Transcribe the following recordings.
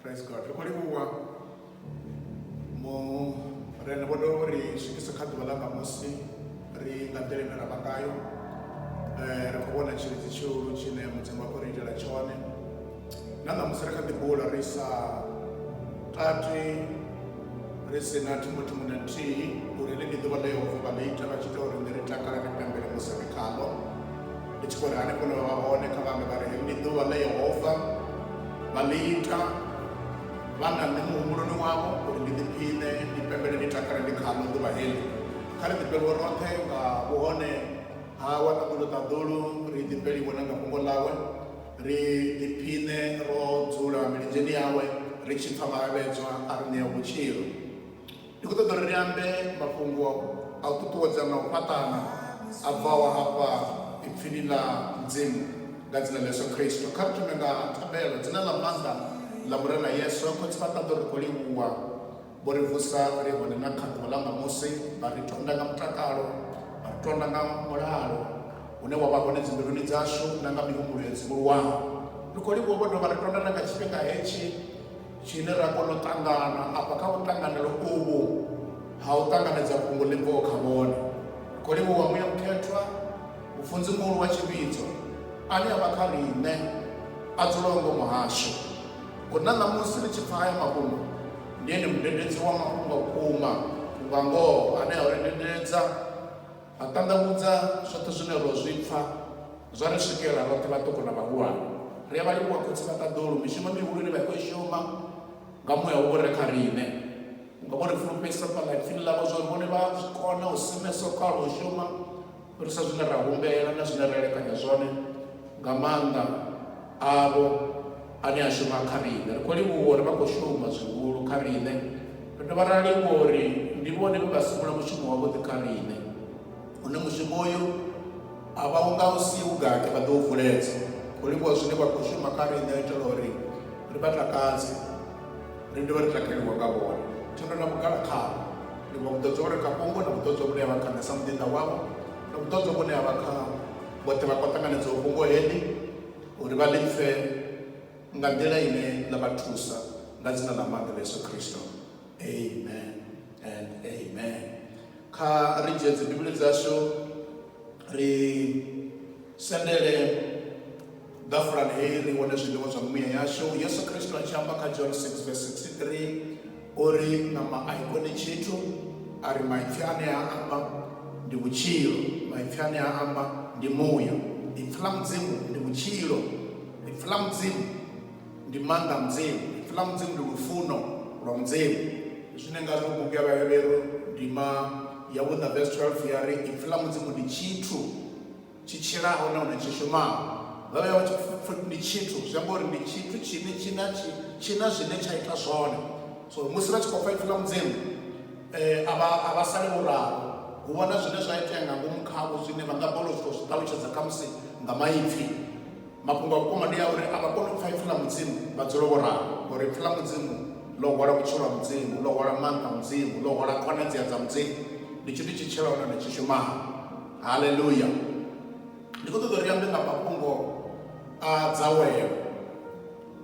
praise god ri khou livhuwa murena vho dovha uri swikisa kha ḓuvha ḽa ṋamusi ri nga nḓila ine ra vha ngayo eh, ri khou vhona tshilidzi tshihulu tshine mudzimu wa khou ri itela tshone na ṋamusi ri kha ḓi bula ri sa tati ri si na thi muthu muṅwe na nthihi uri ḽi ndi ḓuvha ḽa yehova vha ḽi ita vha tshi ita uri ndi ri takala ri pembele musi ri khaḽo Ndi tshi khou ri hanefho hune vha vha hone, kha vha ambe vha ri, Heḽi ndi ḓuvha ḽe Yehova vha ḽi ita. Vha nga nṋe muhumbuloni wavho uri ndi ḓiphiṋe, ndi pembele, ndi takale ndi khaḽo ḓuvha heḽi. Kha ri ḓifhelwe roṱhe nga vhuhone hawe ha ṱaḓulu ṱaḓulu, ri ḓifheliwe na nga fhungo ḽawe, ri ḓiphiṋe ro dzula milenzheni yawe, ri tshi pfa maravhedzwa a ri ṋea vhutshilo. Ndi khou ṱoḓa uri ri ambe mafhungo a u ṱuṱuwedza na u fhaṱana a bvaho hafha Ipfini ḽa Mudzimu, nga Dzina ḽa Yesu Kristo. Kha ri thome nga thabelo. Dzina ḽa maanḓa ḽa Murena Yesu, Khotsi vha ṱaḓa u ri khou livhuwa. Vho ri vusa ri li hone na kha ḓuvha ḽa ṋamusi, vha ri tonda nga mutakalo, vha ri tonda nga mulalo une wa vha hone dzimbiluni dzashu na nga mihumbulo yo dzivhuluwaho. Ri khou livhuwa vho dovha vha ri tonda na nga tshifhinga hetshi, tshine ra kona u ṱangana afha kha vhuṱanganelo uvhu ha u ṱanganedza fhungo ḽi bvaho kha vhone khou livhuwa muya mukhethwa mufunzi muhulu wa tshivhidzo ane a vha kha riṋe a dzulaho ngomu hashu ngori na ṋamusi ri tshi pfa haya mafhungo ndi ene mudededzi wa mafhungo vhukuma vhunga ngoho ane a u rendendedza A ṱanḓavhudza zwoṱhe zwine ro zwi pfa, zwa ri swikela roṱhe vhaṱuku na vhahulwane. Ri a vha livhuwa Khotsi vha Ṱaḓulu, mishumo mihulu ine vha khou i shuma nga muya u re kha riṋe. Vhunga vho ri fulufhedzisa fhaḽa Ipfini ḽavho zwa uri vhone vha a zwi kona u simesa u kala u shuma u fhirisa zwine ra humbela na zwine ra elekanya zwone, nga maanḓa, avho ane a shuma kha riṋe. Ri khou livhuwa uri vha khou shuma zwihulu kha riṋe. Ri dovha ra livhuwa uri ndi vhone vhe vha simula mushumo wavhuḓi kha riṋe, une mushumo uyu a vha u nga u si vhugate vha ḓo u vuledza. Ri khou livhuwa zwine vha khou shuma kha riṋe u itela uri ri vha takadze, ri dovhe ri takaliwa nga vhone. Thendo na vhugala khavho. Livhuwa vhuṱoḓzwa vhu re kha fhungo na vhuṱoḓzwa vhune ha vha kha nṋe sa muḓinḓa wavho na vhuṱoḓzwa vhune ha vha kha vhoṱhe vha khou ṱanganedzaho fhungo heḽi uri vha ḽi pfe nga nḓila ine ḽa vha thusa nga dzina ḽa maanḓa ḽa yesu khristo amen and amen kha ri dzhie dzibivhili dzashu ri sendele Ḓafulani heyi ri wane zwiḽiwa zwa mimuya yashu. Yesu Kristo a tshi amba kha John 6 verse 63 o ri ṋama a i koni tshithu, a ri maipfi ane a amba ndi vhutshilo, maipfi ane a amba ndi muya. Ipfi ḽa Mudzimu ndi vhutshilo, ipfi ḽa Mudzimu ndi maanḓa a Mudzimu, ipfi ḽa Mudzimu ndi lufuno lwa Mudzimu. Zwine ngazwo bugu ya Vhahevheru ndima ya vhuṋa verse 12 ya ri ipfi ḽa Mudzimu ndi tshithu. tshi tshilaho nahone tshi shumaho. Vha vhe vha tshi pfupfa ndi tshithu, zwi amba uri ndi tshithu tshine tshi na tshi tshi na zwine tsha ita zwone. So musi vha tshi khou pfa ipfi ḽa Mudzimu eh, a vha a vha sali vho ralo. Hu vha na zwine zwa itea nga ngomu khavho zwine vha nga balelwa u sokou zwi ṱalutshedza khamusi nga maipfi. Mafhungo a vhukuma ndi a uri a vha koni u pfa ipfi ḽa Mudzimu vha dzule vho ralo ngori ipfi ḽa Mudzimu ḽo hwala vhutshilo ha Mudzimu, ḽo hwala maanḓa a Mudzimu, ḽo hwala khonadzea dza Mudzimu. Ndi tshithu tshi tshilaho nahone tshi shumaho. Haleluya! Ndi khou ṱoḓa uri ambe nga mafhungo a dzawelo,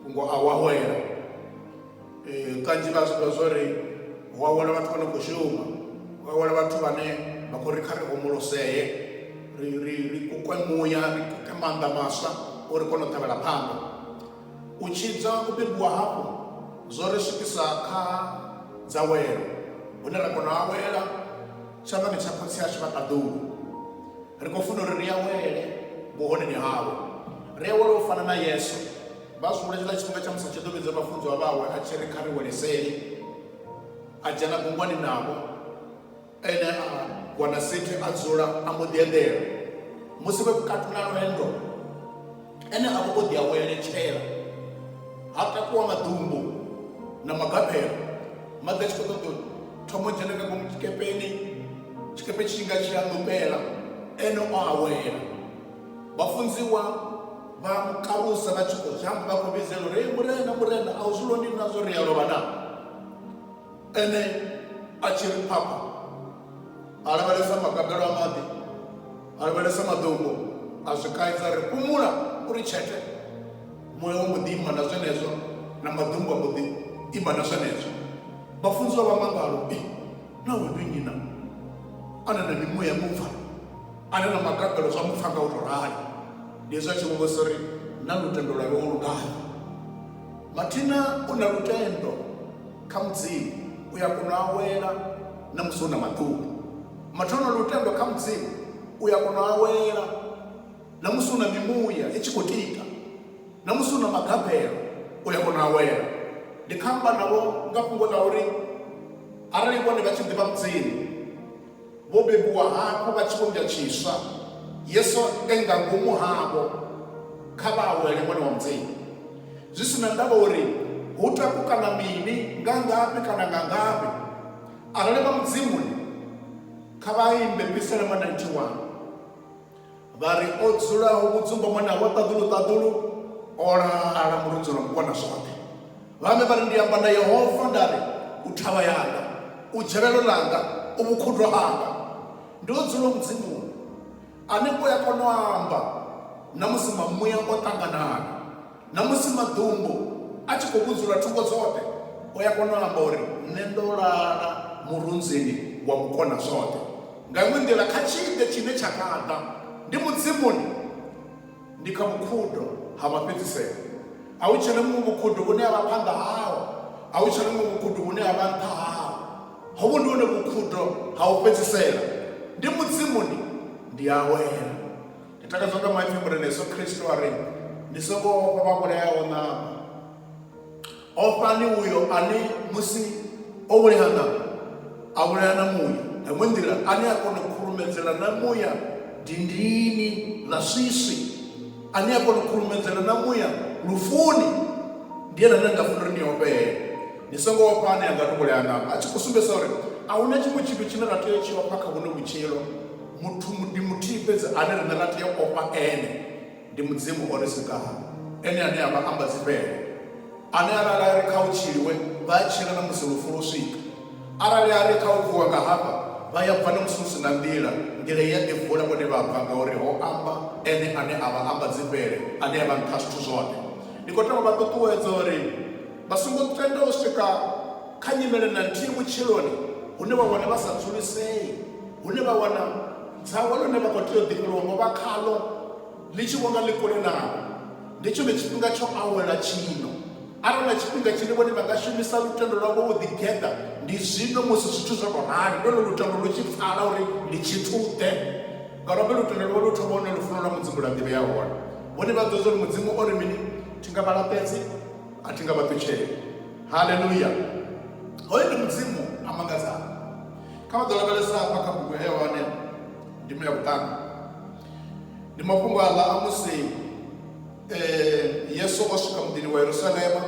fhungo a u awela. Kanzhi vha zwi ḓivha zwo ri hu awela vhathu vha no khou shuma, hu awela vhathu vhane vha khou ri kha ri homolosee, ri ri ri kukwe muya, ri kuke maanḓa maswa uri ri kone u tevhela phanḓa. U tshidzwa, u bebiwa hafhu zwo ri swikisa kha dzawelo hune ra kona u awela. tshanḓani tsha khotsi ashu vha ṱaḓulu ri khou funa uri ri awele vhuhoneni hawe ri awele u fana na yesu vha zwi hulela tshifhinga tsha musi a tshi ḓo vhidza vhafunziwa vhawe a tshi ri kha ri weleseli a dzhena gungwani navho ene a wana sithi a dzula a mbo ḓi eḓela musi vhe vhukati na lwendo Ene a vha o ḓi aweletshela, ha takuwa maḓumbu na magabelo. Maḓi a tshi khou ṱoḓa u thoma u dzhena nga ngomu tshikepeni, tshikepe tshi tshi nga tshi a ṋupela, ene o awela. Vhafunziwa vha mu karusa vha tshi khou zhamba vha khou vhidzela uri, Hei Murena, Murena, a u zwi londwi na zwa uri ri a lovha naa? Ene a tshi ri, Papa! a lavhelesa magabelo a maḓi a lavhelesa maḓumbu a zwi kaidza ri fhumula uri tshete muya wa muḓi ima na zwenezwo na maḓumbu a muḓi ima na zwenezwo vhafunziwa vha mangalo i naho ndi nnyi na ane na mimuya mupfa ane na magabelo zwa mupfa nga u tou rali ndi hezwi a tshi vhuvhusa uri na lutendo lwavhe o lugayo mathina u na lutendo Kha Mudzimu u ya kona u awela na musi hu na maḓumbu. Muthu a no lutendo kha Mudzimu u ya kona u awela na musi hu na mimuya i tshi khou tika, na musi hu na magabelo u ya kona u awela. Ndi khou amba navho nga fhungo ḽa uri arali vhone vha tshi ḓivha Mudzimu, Vho bebiwa hafhu vha tshivhumbwa tshiswa, Yesu e nga ngomu havho. Kha vha awele Ṅwana wa Mudzimu. Zwi si na ndavha uri hu takukana mini, nga ngafhi kana nga ngafhi, arali vha Mudzimuni, kha vha imbe Pisalema 91. vha ri o dzulaho vhudzumba mwana wa ṱaḓulu ṱaḓulu o lala muludzi lwa mukona zwoṱhe vhame vha ri ndi amba na yehova nda ri u thavha yanga u dzhelelo langa u vhukhudwa hanga ndi o dzula mudzimuni ane u ya kona u amba na musi mamuya o ṱanganana na musi maḓumbu a tshi khou vhudzula thungo dzoṱhe u ya kona u amba uri nṋe ndo lala murunzini wa mukona zwoṱhe nga iṅwe nḓila kha tshiḓe tshine tsha nga ḓa ndi mudzimuni ndi kha vhukhudo ha mafhedziselo a hu tshena muṅwe vhukhudo vhune ha vha phanḓa hao a hu tshena muṅwe vhukhudo vhune ha vha nṱha hao hovhu ndi hone vhukhudo ha u fhedzisela ndi mudzimuni ndi awela Ndi takadzwa nga maipfi mure na Yesu Kristo a ri, Ni songo ofha vha vhulayaho ṋama. Ofhani uyo ane musi o vhulaya ṋama a vhulaya na muya. Nga iṅwe nḓila, ane a kona u khurumedzela na muya dindini ḽa swiswi, ane a kona u khurumedzela na muya lufuni, ndi ene ane na nga funa uri ni ofhee. Ni songo ofha ane a nga ni vhulaya ṋama, a tshi khou sumbedzisa uri a hu na tshiṅwe tshithu tshine ra tea u tshi ofha kha vhuno vhutshilo. Muthu ndi muthihi fhedzi ane riṋe ra tea u ofha ene, ndi Mudzimu o ri sikaho, ene ane a vha ambadzifhele, ane arali a ri kha hu tshiliwe, vha a tshila na musi lufu lwo swika, arali a ri kha hu vuwa nga hafha, vha ya bva na musi hu si na nḓila, nḓila i a ḓi vula vhone vha bva, ngauri ho amba ene ane a vha ambadzifhele, ane a vha nṱha ha zwithu zwoṱhe. Ndi khou tea u vha ṱuṱuwedza uri vha songo tenda u swika kha nyimele na nthihi vhutshiloni hune vha wana vha sa dzulisei hune vha wana dzahwa ḽine vha khou tea u ḓifhelwa ngo vha khaḽo ḽi tshi vhonga ḽi kule navho. Ndi tshone tshifhinga tsho awela tshino. Arali na tshifhinga tshine vhone vha nga shumisa lutendo lwavho u ḓigeḓa, ndi zwino musi zwithu zwo tou rali, ndi hone lutendo lu tshi pfala uri ndi tshithu-ḓe. Ngauralo lutendo lwavho lu thoma hune lufuno lwa Mudzimu lwa ḓivhea hone. Vhone vha ḓivha zwa uri Mudzimu o ri mini, Thi nga vha laṱedzi, a thi nga vha ṱutsheli. Haleluya! Hoyo ndi Mudzimu a mangadzaho. Kha vha ḓo lavhelesa hafha kha bugu ya Yohane ndima ya vhuṱanu. Ndi mafhungo aḽa a musi Yesu o swika muḓini wa Yerusalema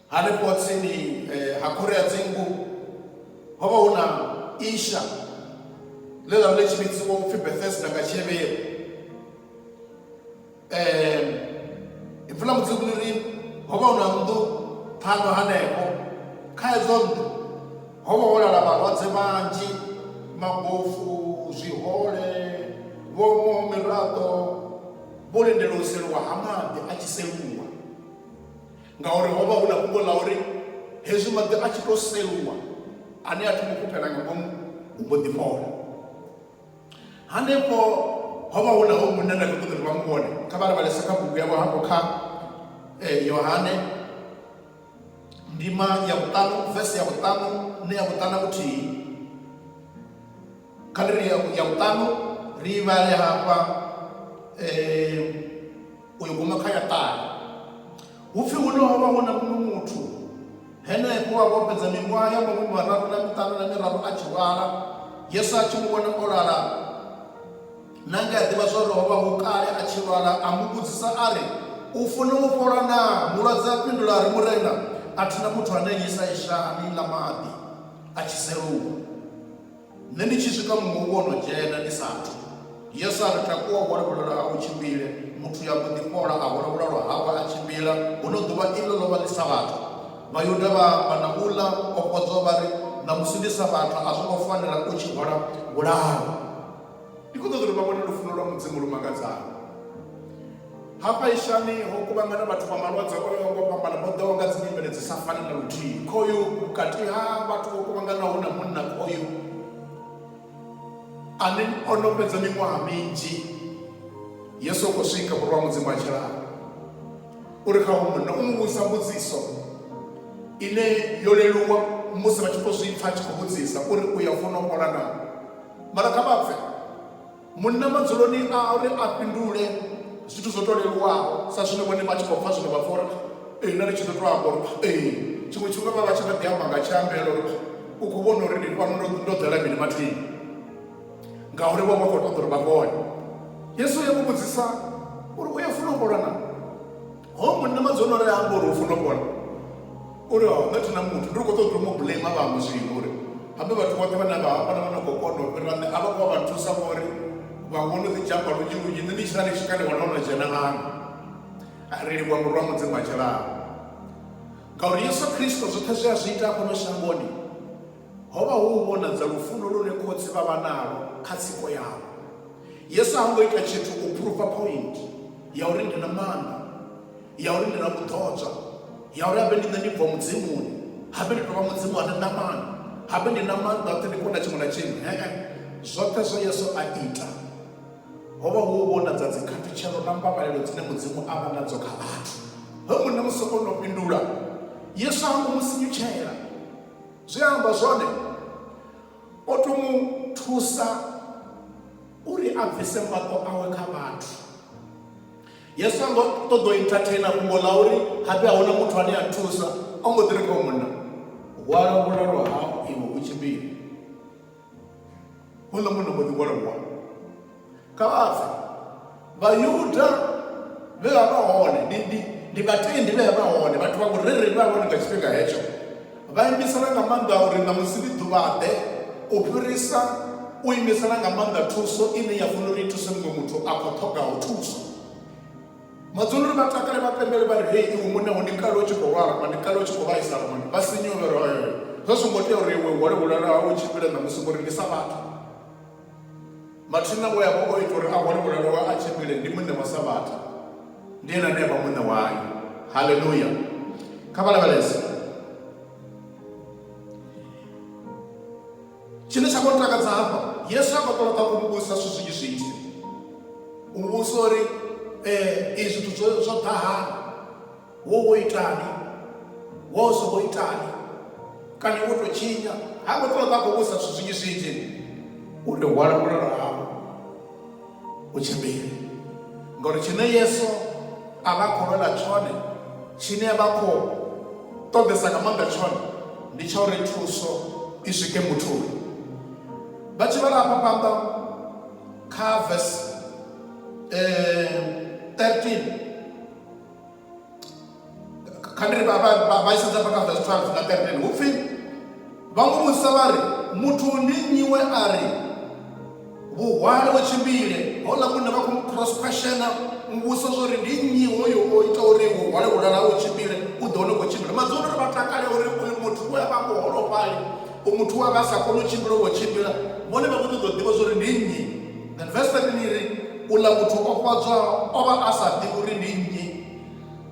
hanefho tsini ha khoro ya dzingu ho vha hu na isha ḽe ḽa vha ḽi tshi vhidziwa upfhi Bethesda nga Tshihevheru. Ipfi ḽa Mudzimu ḽi ri ho vha hu na nnḓu ṱhanu hanefho. Kha edzo nnḓu ho vha ho lala vhalwadze vhanzhi, mabofu, zwihole, vho omaho miraḓo, vho lindela u seliwa ha maḓi a tshi seluwa ngauri ho vha hu na fhungo ḽa uri hezwi maḓi a tshi tou seluwa ane a thoma u fhufhela nga ngomu u mbo ḓi fhola. Hanefho ho vha hu na hoyu munna nda kho ṱoḓa uri vha mu vhone. Kha vha lavhelese kha bugu yavho hafho kha Yohane ndima ya vhuṱanu vese ya vhuṱanu na ya vhuṱanu na vhuthihi. Kha ndi ri ya vhuṱanu ri i vhale hafha . u yo guma kha ya ṱahe. Hu pfi huno ho vha hu na muṅwe muthu henefho we a vha o fhedza miṅwaha ya mahumi mararu na miṱanu na miraru a tshi lwala. Yesu a tshi mu vhona o lala, na nge a ḓivha zwa uri ho vha hu kale a tshi lwala, a mu vhudzisa a ri, U funa u fhola naa? Mulwadze a fhindula a ri, Murena, a thi na muthu ane a nnyisa isha a ni ḽa maḓi a tshi seluwa. Nṋe ndi tshi swika muṅwe u vho no dzhena ndi sa athu. Yesu a ri, Takuwa u hwale vhulalo hau u tshimbile. Muthu uyo a mbo ḓi fhola, a hwala vhulalo hawe a tshimbila. Huno ḓuvha iḽo ḽo vha ḽi Sabatha. Vhayuda vha amba na uḽa o fhodzaho vha ri, Ṋamusi ndi Sabatha, a zwo ngo fanela u tshi hwala vhulalo. Ndi khou ṱoḓa uri vha vhone lufuno lwa Mudzimu lu mangadzaho. Hafha ishani ho kuvhangana vhathu vha malwadze o yaho nga u fhambana, vho ḓaho nga dzinyimele dzi sa fani na luthihi. Khoyu vhukati ha vhathu vho kuvhanganaho hu na munna khoyu ane o no fhedza miṅwaha minzhi. Yesu o khou swika, Murwa wa Mudzimu a tshilaho u ri kha hoyu munna, u mu vhudzisa mbudziso ine yo leluwa musi vha tshi khou zwi pfa a tshi khou vhudzisa uri u ya funa u fhola naa. Mara kha vha pfe. Munna madzuloni a uri a fhindule zwithu zwo tou leluwaho sa zwine vhone vha tshi khou pfa zwino vha pfa uri ee nda ndi tshi ḓo tou amba uri ee. Tshiṅwe tshifhinga vha vha tshi kha ḓi amba nga tshiambelo uri u khou vhona uri ndi fhano ndo ndo ḓela mini mathina ngauri vho vha khou ṱoḓa uri vha vhone. Yesu u ya mu vhudzisa uri u ya funa u fhola naa? Hoyo munna madzo ono ri amba uri u funa u vhona uri ha nṋe thina muthu ndi kho ṱoḓa u mu blame vhaṅwe zwino uri habe vhathu vhoṱhe vhane vha hamba na vhane kho kona u fhira nṋe a vha khou vha vha nthusa ngori vhaṅwe vho no ḓi dzhamba lunzhi lunzhi nṋe ndi tshi sala tshikha ndi wana ono dzhena ngano ri livhuwa muru wa mudzimu a tshilaho ngauri yesu khristo zwoṱhe zwe a zwi ita hafhano shangoni Ho vha hu u vhonadza lufuno lune khotsi vha vha nalwo kha tsiko yavho. Yesu ha ngo ita tshithu u phuruva phointhe ya uri ndi na maanḓa, ya uri ndi na vhuḓodzwa, ya uri habe ndi nṋe ndi bva Mudzimuni, habe ndi tou vha Mudzimu a re ṋamani, habe ndi na maanḓa oṱhe, ndi kona tshiṅwe na tshiṅwe. Hee. Zwoṱhe zwe Yesu a ita ho vha hu u vhonadza dzikhathutshelo na mbavhalelo dzine Mudzimu a vha nadzo kha vhathu. Hemu na musi o no fhindula, Yesu ha ngo mu sinyutshela. Zwe a amba zwone, o tou mu thusa uri a bvise mafho awe kha vhathu. Yesu ha ngo ṱoḓa u entertainer fhungo ḽa uri hapfi a hu na muthu ane a thusa, o mbo ḓi ri kha uyo munna, Hwala vhulalo hau iwe u tshimbile. Houḽa munna mbo ḓi hwalelwa kha vha bve. Vhayuda vhe vha vha hone, ndi, ndi, ndi vhatendi vhe vha vha hone, vhathu vha vhurereli vhe vha vha hone nga tshifhinga hetsho, vha imisana nga maanḓa uri ṋamusi ndi ḓuvha-ḓe u fhirisa u imisana nga maanḓa thuso ine ya fanela uri i thuse muṅwe muthu a khoṱhogaho thuso. Madzulu ri vha takale vha pembele vha ri, Hei iwe munna, wo ni kale u tshi khou lwala, wa ni kale u tshi khou vhaisala, wa ni vha sinyuwa, vha ri, Oyoyo, zwo zwo ngo tea uri iwe u hwale vhulwala hau u tshimbile ṋamusi, ngori ndi sa vhathu. Mathina we a vha o ita uri a hwale vhulwala hawe a tshimbile ndi muṋe wa Savhatha. Ndi ene ane a vha muṋe wayo. Haleluya! Kha vha lavhelese. Tshine tsha khou ntakadza hafha, Yesu ha ngo tou ṱoḓa u muvhudzisa zwithu zwinzhi zwinzhi, u muvhudzisa uri, Ee, izwi zwithu zwo, zwo ḓa hani? Wo wo itani? Wo zwo wo itani? Kana wo tou tshinya? Ha ngo tou ṱoḓa a khou vhudzisa zwithu zwinzhi zwinzhi uri hwala vhulalo hau. u tshimbila. Ngauri tshine Yesu a vha khou lwela tshone, tshine a vha khou ṱoḓesa nga maanḓa tshone, ndi tsha uri thuso i swike muthuni. Vha tshi vhala hafha phanḓa kha vesi 13 kha ndi ri vha vha- vha- vha isedza hafha kha verse 12 na 13 hu pfi vha mu vhudzisa vha ri muthu ndi nnyi we a ri vhuhwale we tshimbile houḽa munna vha khou mu cross questiona u vhusa zwa uri ndi nnyi hoyo o ita uri vhuhwale vhulala u tshimbile u ḓo hone u khou tshimbila madzulu uri vha takale uri uyu muthu we a vha muholofhali u muthu we a vha a sa koni u tshimbila u vho tshimbila vhone vha khou ṱoḓa u ḓivha zwa uri ndi nnyi Then verse 13 iri uḽa muthu o fhodzwaho o vha a sa ḓivhi uri ndi nnyi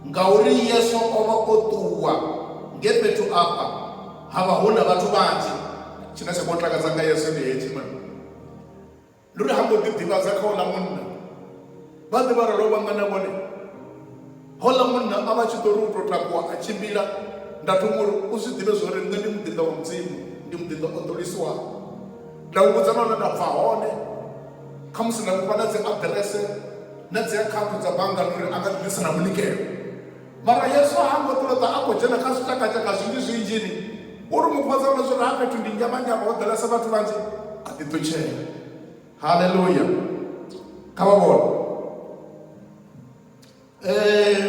ngauri Yesu o vha o ṱuwa nge fhethu afha ha vha hu na vhathu vhanzhi. Tshine tsha khou takadza nga Yesu ndi hetshi na ndi uri ha ngo ḓi ḓivhadza kha uḽa munna vhaḓi vha re lovha nga na vhone. Houḽa munna a vha a tshi ḓo ri u tou takuwa a tshimbila, nda thoma u ri, U zwi ḓivhe zwa uri nṋe ndi muḓinḓa wa Mudzimu, ndi muḓinḓa o ḓolisiwaho. Nda u vhudza na hune nda bva hone, khamusi nda mu fha na dzi aḓirese na dzi akhaunthu dza banngani uri a nga ḓi ḓisa na munikelo. Mara Yesu ha ngo ṱoḓa a khou dzhena kha zwitshakatshaka zwinzhi zwinzhini, u ri mu fhodza na zwa uri ha fhethu ndi nzhavhanzhavha ho ḓalesa vhathu vhanzhi, a ḓiṱutshela. Haleluya! Kha vha vhone. um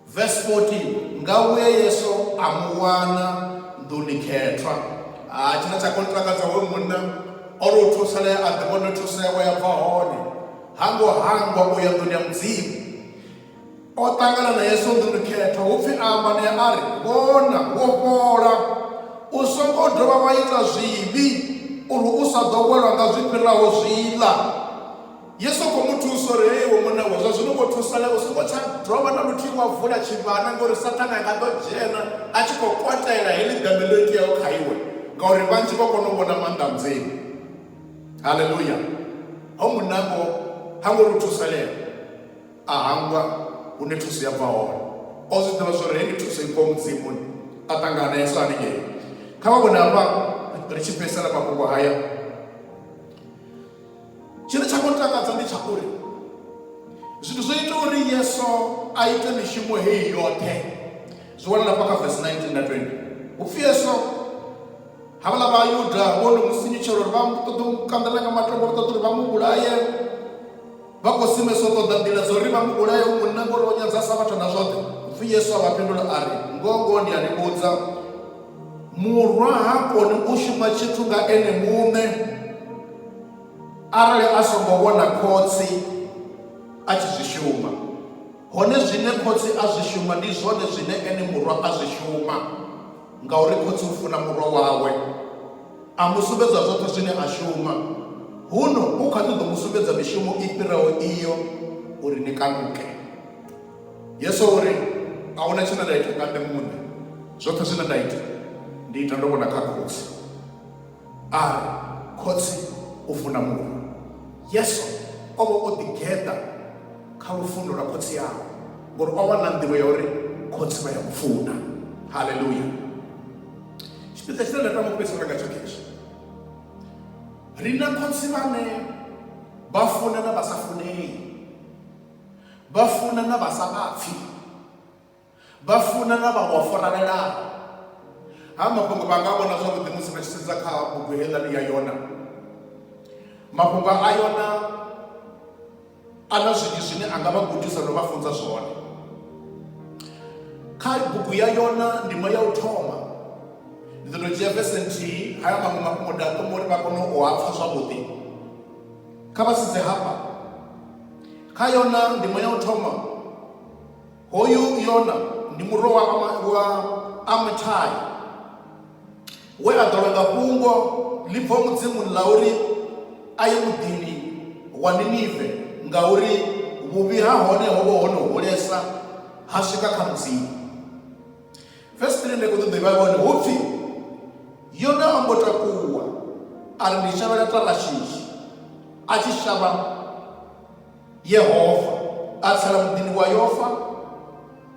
verse 14 nga uye yesu amuwana nḓuni khethwa a ah, tshine tsha khou takadza hoyo munna o ri u thusalea a ḓivhone thusewa ya bva hone hango hangwa u ya nḓuni ya mudzimu o ṱangana na yesu nḓuni khethwa hu pfhi amba ne a ri vhona wo fhola u songo dovha wa ita zwivhi uri u sa ḓo welwa nga zwi fhiraho zwiḽa Yesu a khou mu thusa uri, Hei iwe muṋe wa, zwa zwino wo thusalea, u songo tsha dovha na luthihi wa vula tshivhana, ngauri Saṱhane a nga ḓo dzhena a tshi khou kwatela heḽi ḓembe ḽo iteaho kha iwe, ngauri vhanzhi vho kona u vhona maanḓa a Mudzimu. Haleluya! Hoyu munna ngo ha ngo ri u thusalea, a hangwa hune thuso ya bva hone. O zwi ḓivha zwa uri hei ndi thuso i bvaho Mudzimuni. A ṱangana na Yesu haningei. Kha vha vhone hafha ri tshi fhedzisela mafhungo haya. tshine tsha khou takadza ndi tsha uri zwithu zwo ita uri yesu a ite mishumo heyi yoṱhe zwi wanala fha kha vesi 19 na 20 upfi yesu havhala vhayuda vho no mu sinyutshela uri vha ṱoḓa u kanḓela nga matombo vha ṱoḓa uri vha mu vhulaye vha khou simesa u ṱoḓa nḓila dza uri vha mu vhulaye u munna ngori o nyadza sa vhathu na zwoṱhe upfi yesu a vha fhindula a ri ngongo ndi a ni vhudza murwa ha koni u shuma tshithu nga ene muṋe arali a songo vhona khotsi a tshi zwi shuma hone zwine khotsi a zwi shuma ndi zwone zwine ene murwa a zwi shuma ngauri khotsi u funa murwa wawe a mu sumbedza zwoṱhe zwine a shuma huno u kha ḓi ḓo mu sumbedza mishumo i fhiraho iyo uri ni kanuke yesu uri a huna tshine nda ita nga nṋe muṋe zwoṱhe zwine nda ita ndi ita ndo vhona kha khotsi A ri, Khotsi, u funa muṅwe. Yesu o vha o ḓigeḓa kha lufuno lwa Khotsi awe ngori o vha na nḓivho ya uri Khotsi vha ya mu funa. Haleluya! Tshipiḓa tshine nda tama u fhedzisela ngatsho khezwi, ri na khotsi vhane vha funa na vha sa funei, vha funa na vha sa vha pfhi, vha funa na vhaṅwe vha faralelaho ha mafhungo vha nga vhona zwavhuḓi musi vha tshi sedza kha bugu heiḽani ya yona mafhungo a yona a na zwinzhi zwine a nga vha gudisa no vha funza zwone kha bugu ya yona ndimo ya u thoma ndi ḓo to dzhia vese nthihi haya maṅwe mafhungo nda thoma uri vha kone u a pfha zwavhuḓi kha vha sedze hafha kha yona ndimo ya u thoma Hoyu Yona ndi murwa wa, Ama, wa Amitai we a ḓolwa nga fhungo ḽi bvo Mudzimuni ḽa uri a ye muḓini wa Ninive ngauri vhuvhi ha hone ho vha ho no hulesa ha swika kha Mudzimu. Vesi 3 ndi khou ṱoḓa ivha hone hu pfi Yona a mbo takuwa a ri ndi shavhela Tarashishi a tshi shavha yehova a tsela muḓini wa yofa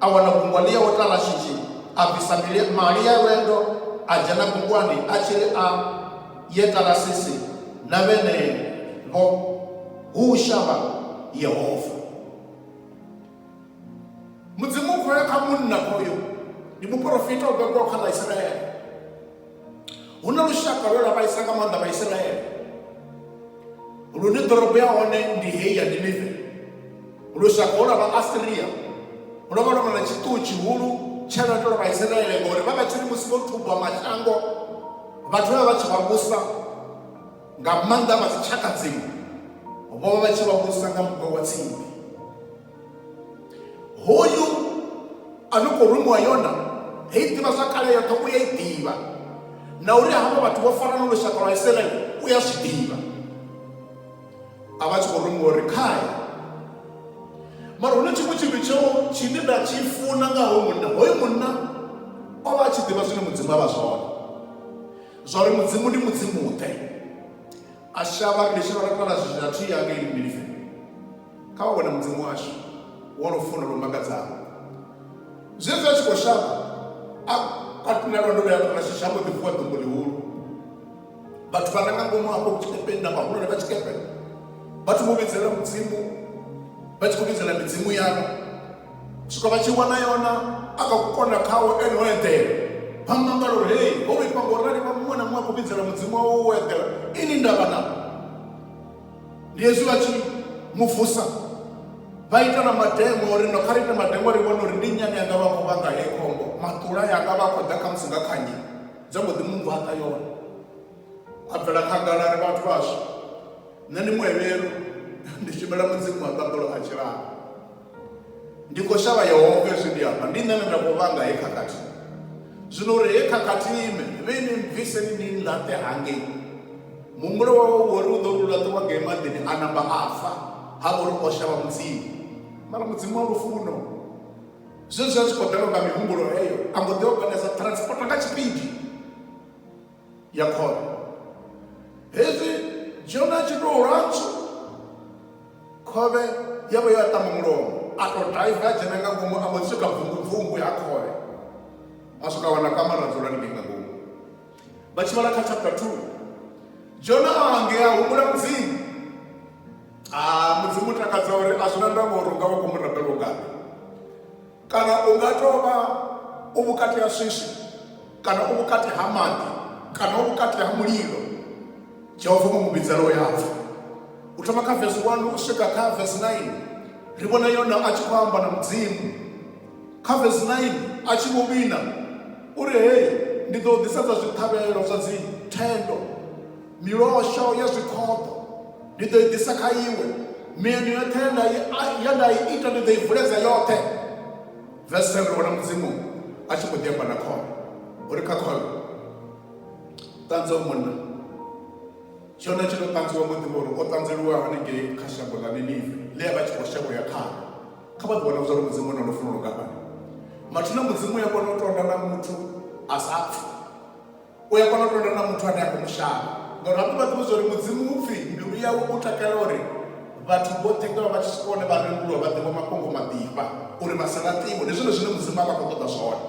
a wana gungwa ḽi yaho tlala shishi a bvisa mali ya lwendo a dzhena gungwani a tshi ri a ye tarasisi na vhenevho hu shavha yehova mudzimu u khoya kha munna hoyo ndi muporofita o bebwaho kha ḽa isiraele hu na lushaka lwe lwa vhaisa nga maanḓa vhaisiraele lune ḓorobo ya hone ndi heyi ya ninive lushaka lwa vhaasiria lwo vha lwo vha na tshiṱuhu tshihulu tsha lwa tou vhaisiraele ngori vha vha tshiri musi vho thubwa mashango vhathu vha vha vha tshi vha vhusa nga maanḓa vha dzitshaka dziṅwe vho vha vha tshi vha vhudzisa nga muṅwe wa tsimbi hoyu a no khou rumiwa yona hei ḓivha zwa kale yoṱhe u ya i ḓivha na uri havha vhathu vho fara no lushaka lwa isiraele u ya zwi ḓivha a vha tshi khou rumiwa uri khae mara hune tshiṅwe tshithu tsheo tshine nda tshi funa nga hoyu munna hoyu munna o vha a tshi ḓivha zwine mudzimu a vha zwone zwa uri mudzimu ndi mudzimu-ḓe a shavha ri nditshi vha rikala zwithu zwa thi yanga ili mbilife kha wa wena mudzimu washu wo no funa lwo makadzaho zwezwi a tshi khou shavha a katula lwendo lwa yanga lwashu shambo ḓi vuwa ḓumbu ḽihulu vhathu vha ranga ngomu hafho tshikepeni na vhahulwane vha tshikepe vha thoma u vhidzelela mudzimu vha tshi khou vhidzelela midzimu yavho u swika vha tshi wana yona a kha ku konda khawo ene o eḓela vha mu ambala uri hei ho vhifha ngo rali vha muṅwe na muṅwe a khou vhidzela mudzimu wawe wo eḓela ini ndavha na ndi hezwi vha tshi mu vusa vha ita na mademo uri no kha ri ite mademo ri vhone uri ndi nyani yanga vha khou vhanga heyi khombo maṱula yanga vha khou ḓa khamusi nga kha nyi dza mbo ḓi mu ngwaṱa yone a bvela khagala ri vhathu vhashu nṋe ndi muhevhelu ndi shumela mudzimu wa ṱaḓulo a tshilana ndi khou shavha yehova hezwi ndi amba ndi nṋe ne nda khou vhanga he khakhathi zwino uri he khakhathi ime vhe ni mbvise ni ni nlaṱe hangei muhumbulo wawe wori u ḓo ri ulaṱiwa ngei maḓini a namba a fa ha vha uri o shavha mudzimu mara mudzimu wa lufuno zwezwi a tshi khou ḓelwa nga mihumbulo heyo a mbo ḓi oganesa transport nga tshipidi ya khoro hezwi dzhona tshi tou lwatshu khovhe ya vho ya ṱamba mulomo a tou daiva a dzhena nga ngomu a mbo swika bvungubvungu ya khovhe a swika wana kamara dzula ni nga ngomu vha tshi vhala kha chapter 2 dzhona a ngea humbula mudzimu a mudzimu takadza uri a zwi na ndavha uri u nga vha khou mu rabela ungani kana u nga tou vha u vhukati ha swiswi kana u vhukati ha maḓi kana u vhukati ha mulilo jehova mu mu vhidzela u yapfa u thoma kha vesi 1 u swika kha vesi 9 ri vhona yona a tshi khou amba na mudzimu kha vesi 9 a tshi vho vhina uri hei ndi ḓo ḓisedza zwiṱhavhelo zwa dzi thendo Milosho ya zwikhoḓo ndi ḓo i ḓisa kha iwe, mieno yoṱhe ye nda i- ye nda i ita ndi ḓo i vuledza yoṱhe. Verse 7 ri wana mudzimu a tshi khou ḓi amba na khole uri kha khole ṱanzwa u munna tshone tshi tou ṱanzwiwa ngo ḓivha uri o ṱanzeliwa hanengei kha shango ḽa ninive ḽe a vha tshi khou shavha u ya khao kha vha ḓi wana zwa uri mudzimu u na lufuno lungafhani mathina mudzimu u ya kona u tonda na muthu a sa pfi u ya kona u londa na muthu ane a khou mushaya ngauri hafho vha ḓivha zwa uri mudzimu u pfhi mbilu yawe u takala uri vhathu vhoṱhe nga vha tshi swika hone vha renduliwa vha ḓivha mafhungo maḓifha uri vha sa laṱiwe ndi zwone zwine mudzimu a vha khou ṱoḓa zwone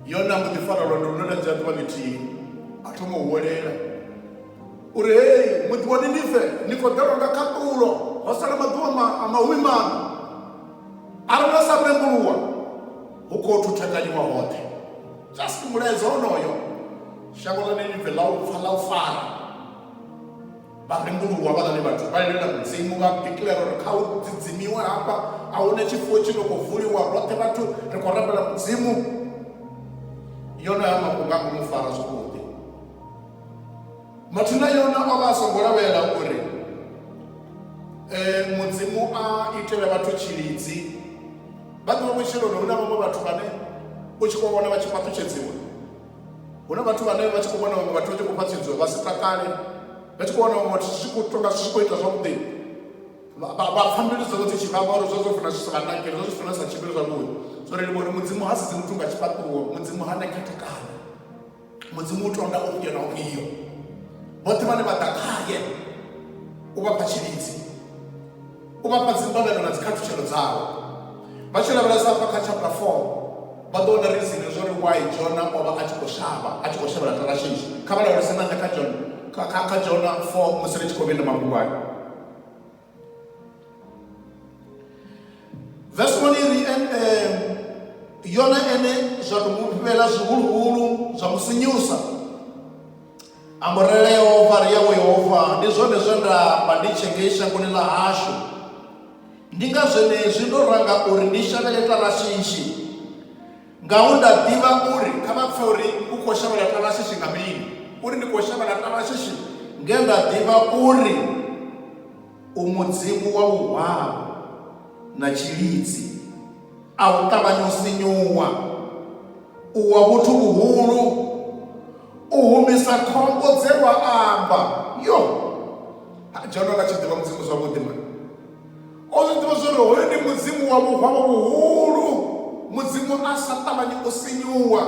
yone a mbo ḓi fara lwendo lune lwa dzhia ḓuvha ḽithihi a thoma u huwelela uri hei muḓi wa ninive ni khou ḓelwa nga khaṱulo ho sala maḓuvha a mahumi maṋa a ri na sa rembuluwa hu khou thuthakanyiwa hoṱhe just mulaedza onoyo shango ḽa ninive ḽa u pfa ḽa u fara vha rembuluwa vhaḽani vhathu vha lilela mudzimu vha declare uri kha u dzidzimiwe hafha a hu na tshifuwo tshi no khou vuliwa roṱhe vhathu ri khou rambela mudzimu yonoyo mafhungo a ngo mu fara zwavhuḓi Mathu na Yona o vha a songo lavhelela uri eh, Mudzimu a itele vhathu tshilidzi. Vha ḓivha vhutshiloni hu na vhaṅwe vhathu vhane u tshi khou vhona vha tshi fhaṱutshedziwa hu na vhathu vhane vha tshi khou vhona vhaṅwe vhathu vha tshi khou fhaṱutshedziwa vha si takale vha tshi khou vhona vhaṅwe vhathu zwi khou tonga zwi khou ita zwavhuḓi vha pfha mbilu dzavho dzi tshi vhavha uri zwa zwo funa zwi sa vha nakeli zwa zwi funa zwi sa tshimbili zwavhuḓi zwo ri livha uri mudzimu ha sedzi muthu nga tshifhaṱuwo mudzimu ha na khethekanyo mudzimu u tonda ufhio na ufhio vhoṱhe vhane vha ḓa khaye u vha fha tshilidzi u vha fha dzimbalelo na dzikhathutshelo dzawo vha tshi lavhelesa afha kha chapter 4 vha ḓo wana rizini zwo ri wai jona o vha a tshi khou shavha a tshi khou shavhela tarashishi kha vha lavhelese nanga kha jona kha jona 4 musi ri tshi khou vhenda mafhungo ayo vesi 1 ri yone ene zwa ri mufhela zwihuluhulu zwa mu sinyusa amborele yehova ri yawe yehova ndi zwone zwe nda amba ndi tshe ngei shangoni ḽa hashu ndi nga zwenezwi ndo ranga uri ndi shavhele tarashishi Ngaho nda ḓivha uri kha vha pfe uri u khou shavhela Tarashishi nga mini, uri ndi khou shavhela Tarashishi nge nda ḓivha uri u mudzimu wa vhuhwavho na tshilidzi, a u ṱavhanya u sinyuwa, u wa vhuthu vhuhulu, u humisa khombo dze wa amba. Yoh! Ha Jona vha tshi ḓivha Mudzimu zwavhuḓi mani! o zwi ḓivha zwori hoyo ndi mudzimu wa vhuhwavho vhuhulu mudzimu a sa ṱavhanyi u sinyuwa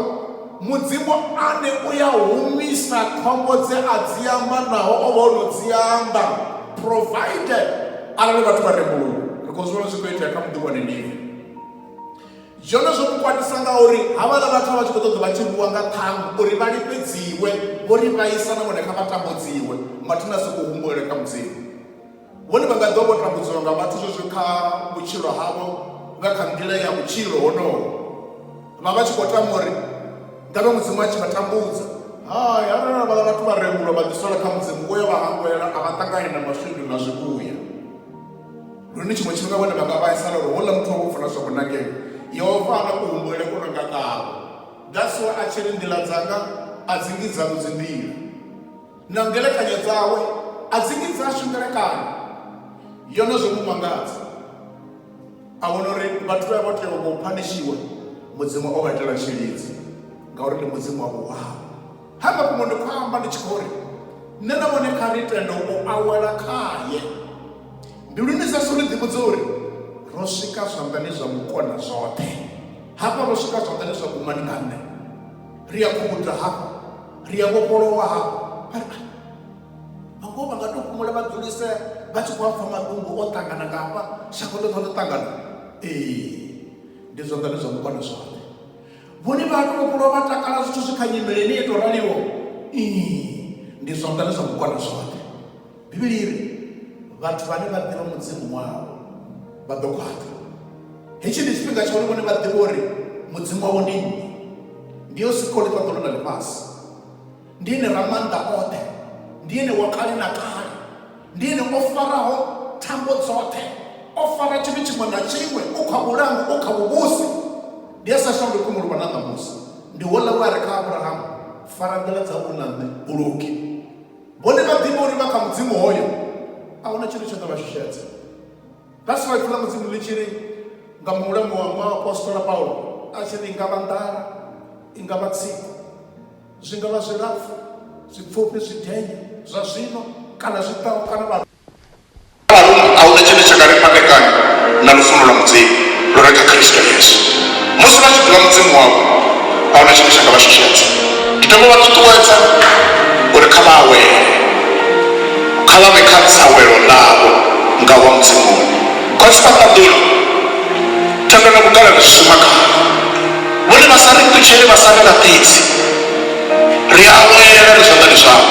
mudzimu ane u ya humisa khombo dze a dzi amba naho o vha o no dzi amba provided arali vhathu vha rembuluwa ri khou zwivhona zwi khou itea kha muḓi wa ninive zwone zwo mukwatisa nga uri havhala vhathu vha tshi khou ṱoḓa vha tshi rwiwa nga ṱhangu uri vha lifhedziwe vho ri vhaisa na vhone kha vha tambudziwe mathina si khou humbulele kha mudzimu Vhone vha nga ḓo vho tambudzwa nga vhathu zwezwo kha vhutshilo havho nga kha nḓila ya vhutshilo honoho vha vha tshi khou tama uri ngavhe mudzimu a tshi vha tambudza hai arali vha vhathu vha rembulwa vha ḓisola kha mudzimu u ya vha hangwela a vha ṱangani na maswindu na zwivhuya lune tshiṅwe tshifhinga vhone vha nga vhaisala uri houḽa muthu wa vho funa zwa kunakele yehova ana kuhumbulele ku no nga ngavho that's why a tshi ri nḓila dzanga a dzi ngi dzanu dzi nḓila na ngelekanyo dzawe a dzi ngi dzashu ngelekanyo yo no zwo mu mangadza a vhona uri vhathu vha vho tea u phanishiwa mudzimu o vha itela tshilidzi ngauri ndi mudzimu wavho wao ha nga fhungo ndi khou amba ndi tshi khou ri nṋe na vhone kha ri tende u awela khaye ndi lune sashu ri ḓivhudze uri ro swika zwanḓani zwa mukona zwoṱhe hafha ro swika zwanḓani zwa kumani nga nṋe ri a khubudza hafhu ri a vhofholowa hafhu vhangoho vha nga to fhumula vha dzulisea vha tshi khou apfa matungu o ṱangana nga hafha shango ḽoṱhe ḽo ṱangana ee ndi zwa ḓane zwa mukwane zwone vhone vha to vhofholowa vha takala zwithu zwi kha nyimele ni to raliwo ee ndi zwa ḓane zwa mukwane zwone Bivhili i ri, Vhathu vhane vha ḓivha Mudzimu wavho vha ḓo khwaṱha. Hetshi ndi tshifhinga tsha uri vhone vha ḓivhe uri Mudzimu wavho ndi nnyi. Ndi yo sikho ḽifhaṱo ḽa ḽifhasi. Ndi ene Ramaanḓa oṱhe. Ndi ene wa kale na kale. Ndi ene o faraho thambo dzoṱhe. O fara tshithu tshiṅwe na tshiṅwe. U kha vhulangi, u kha vhuvhusi. Ndi a sa shanduki mu luvha na ṋamusi. Ndi houḽa we a ri kha Abrahamu, Fara nḓila dzau u na nṋe, u luge. Vhone vha ḓivha uri vha kha mudzimu hoyo a huna tshithu tsha ḓo vha shushedza. That's why ifa ḽa mudzimu ḽi tshi ri nga muhulamu wa muapostola Paulo a tshi ri i nga vha nḓala i nga vha tsiko zwi nga vha zwilapfu zwipfufhi zwidenye zwa zwino kana zwi ḓaho kana vha Kha vharuṅwa a hu na tshine tsha nga ri fhandekanya na lufuno lwa Mudzimu lu re kha Kristo Yesu. Musi vha tshi ḓivha Mudzimu wavho, a hu na tshine tsha nga vha shushedza. Ndi dovha u vha ṱuṱuwedza uri kha vha awele, kha vha vhe kha dzawelo ḽavho nga u vha Muzimuni. Vha tshi sa ṱaḓuli thendo na vhugalelo zwi shuma khavho, vhone vha sa ri ṱutshele, vha sa ri laṱidzi. Ri awela ri zwanḓani zwawe,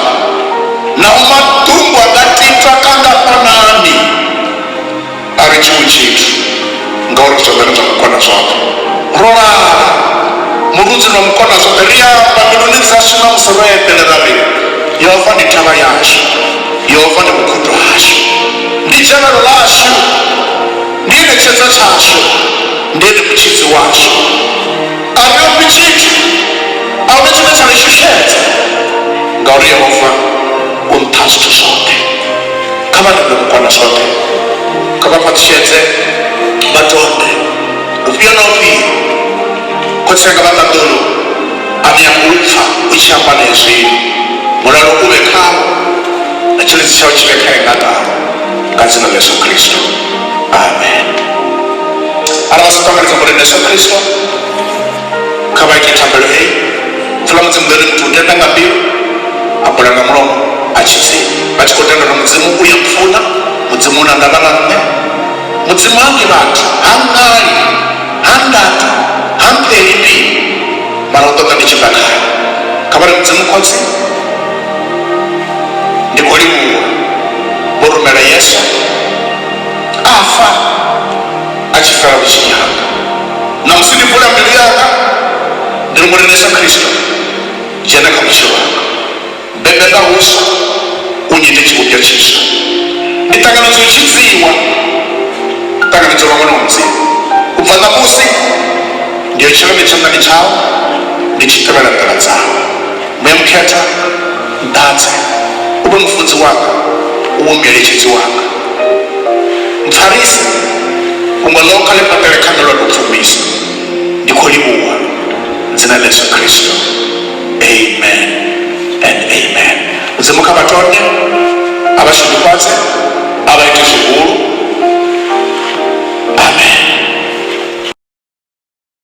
nao maḓumbu a nga titwa kha nga fhanani a ri tshiṅwe tshithu, ngauri ri zwanḓani zwa Mukonazwoṱhe. Ro lala murunzini wa Mukonazwoṱhe, ri amba mbiluni dzashu na musi ro eḓela ra ri, Yehova ndi thavha yashu, Yehova ndi vhukhudo hashu, ndi dzhavhelo ḽashu, ndi ene tshedza tshashu, ndi ene mutshidzi washu. Ariopi tshithu, a hu na tshine tsha ri shushedza, ngauri Yehova u nṱha ha zwithu zwoṱhe. Kha vha ḓivhe vhukona zwoṱhe, kha vha fhaṱutshedze, vha tonde ufhio na ufhio. Khotsi anga vha ṱaḓulu, a ni ambi u pfa u tshi amba na hezwino. Mulalo u vhe khavho, na tshilidzi tshawe tshi vhe kha eṋatavho, nga dzina ḽa Yesu Kristo. amen ara vha songo tanganedza murendo yesu khristo kha vha ite thambelo heyi pfula mudzimu ḽone muthu u tenda nga mbilu a bula nga mulomo a tshi pfi vha tshi khou tenda uri mudzimu u ya mpfuna mudzimu una ndavha na nṋe mudzimu hangi vhathu ha ngali ha ndatu ha mpeli mbili mara u ṱoḓa ndi tshi bva khayo kha vha ri mudzimu khotsi ndi khou livhuwa vho rumela yesu a fa a tshi fela vhutshini hanga namusi ndi vula mbilu yanga ndi ri murena yesu khristo dzhena kha vhutshilo hanga bebe nga huswa u nyite tshivhumbwa tshiswa ndi ṱanganedza u tshidziwa ṱanganedza vhaṅwe na mudzimu u bva ṋamusi ndi yo tshilani tshanḓani tshau ndi tshi tevhela nḓila dzau Muya Mukhethwa, nḓadze, u vhe mufunzi wanga, u vhe mueletshedzi wanga. Mpfarise, vhunga ḽo kha ḽi fhaṱele kha nṋe lwa tou pfumbisa. Ndi khou livhuwa dzina ḽa Yesu Kristo. Amen and amen. Mudzimu kha vha tonye, a vha shudufhadze, a vha ite zwihulu. Amen.